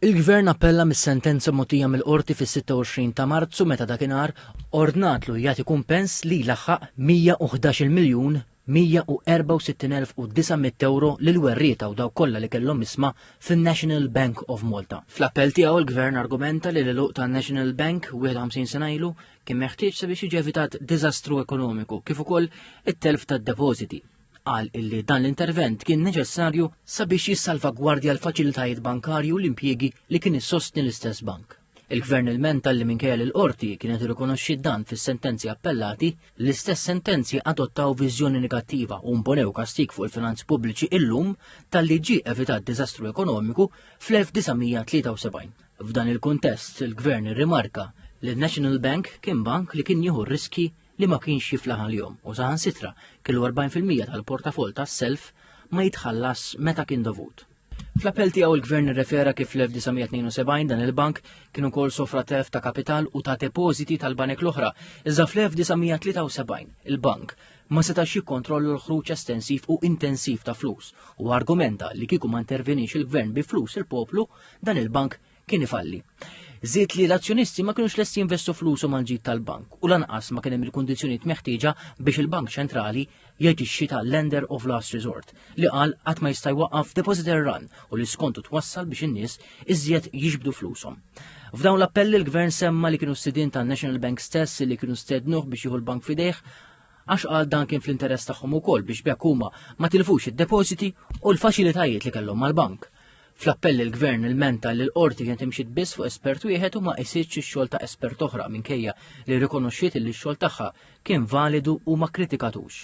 Il-Gvern appella mis-sentenza mogħtija mill-Qorti fis-26 ta' Marzu meta dakinhar ordnatlu jagħti kumpens li jlaħħaq 111 miljun 164,900 ewro lill-werrieta u dawk kollha li kellhom isma fin-National Bank of Malta. Fl-appell tiegħu l-Gvern argumenta li l-għeluq tan-National Bank 51 sena ilu kien meħtieġ sabiex jiġi evitat diżastru ekonomiku kif ukoll it-telf tad-depożiti. Qal illi dan l-intervent kien neċessarju sabiex jissalvagwardja l-faċilitajiet bankarji u l-impjiegi li kien issostni l-istess bank. Il-Gvern ilmenta li minkejja li l-Qorti kienet irrikonoxxiet dan fis-sentenzi appellati, l-istess sentenzi adottaw viżjoni negattiva u mponew kastig fuq il-finanzi pubbliċi illum talli ġie evitat diżastru ekonomiku fl-1973. F'dan il-kuntest, il-Gvern irrimarka li n-National Bank kien bank li kien jieħu r-riskji li ma kienx jiflaħ għalihom u saħansitra kellu 40% tal-portafoll tas-self ma jitħallas meta kien dovut. Fl-appell tiegħu l-Gvern irrefera kif fl-1972 dan il-bank kien ukoll sofra telf ta' kapital u ta' depożiti tal-banek l-oħra, iżda fl-1973 il-bank ma setax jikkontrollu l-ħruġ estensiv u intensiv ta' flus u argumenta li kieku ma intervenix il-Gvern bi flus il-poplu dan il-bank kien ifalli. Żied li l-azzjonisti ma kienux lesti jinvestu flusu mal-ġid tal-bank u lanqas ma kien hemm il-kundizzjonijiet meħtieġa biex il-Bank Ċentrali jaġixxi ta' lender of last resort li qal qatt ma jista' jwaqqaf depositor run u li skontu twassal biex in-nies iżjed jiġbdu flushom. F'dawn l-appelli l-Gvern semma li kienu s-sidin ta' National Bank stess li kienu stednuh biex jieħu l-bank fidejh għax qal dan kien fl-interess tagħhom ukoll biex bekk huma ma tilfux id-depożiti u l-faċilitajiet li kellhom mal-bank. Fl-appell il-Gvern ilmenta li l-qorti kienet imxiet biss fuq espert wieħed u ma qisitx ix-xogħol ta' espert oħra minkejja li rrikonoxxiet illi x-xogħol tagħha kien validu u ma kkritikatux.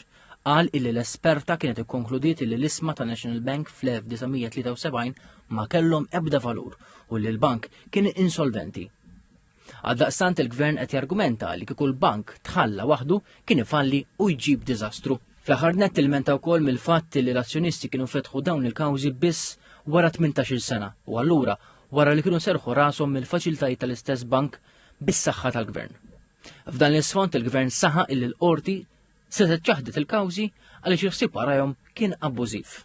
Qal illi l-esperta kienet ikkonkludiet illi l-isma ta' National Bank fl-1973 ma kellhom ebda valur u li l-bank kien insolventi. Għaldaqstant il-Gvern qed jargumenta li kieku l-bank tħalla waħdu kien ifalli u jġib diżastru. Fl-aħħar nett ilmenta wkoll mill-fatt li l-azzjonisti kienu fetħu dawn il-kawżi biss wara 18-il sena u allura wara li kienu serħu rashom mill-faċilitajiet tal-istess bank bis-saħħa tal-Gvern. F'dan l-isfond il-Gvern saħa illi l-qorti se ċaħdet il-kawżi għaliex il-ħsieb warajhom kien abbużiv.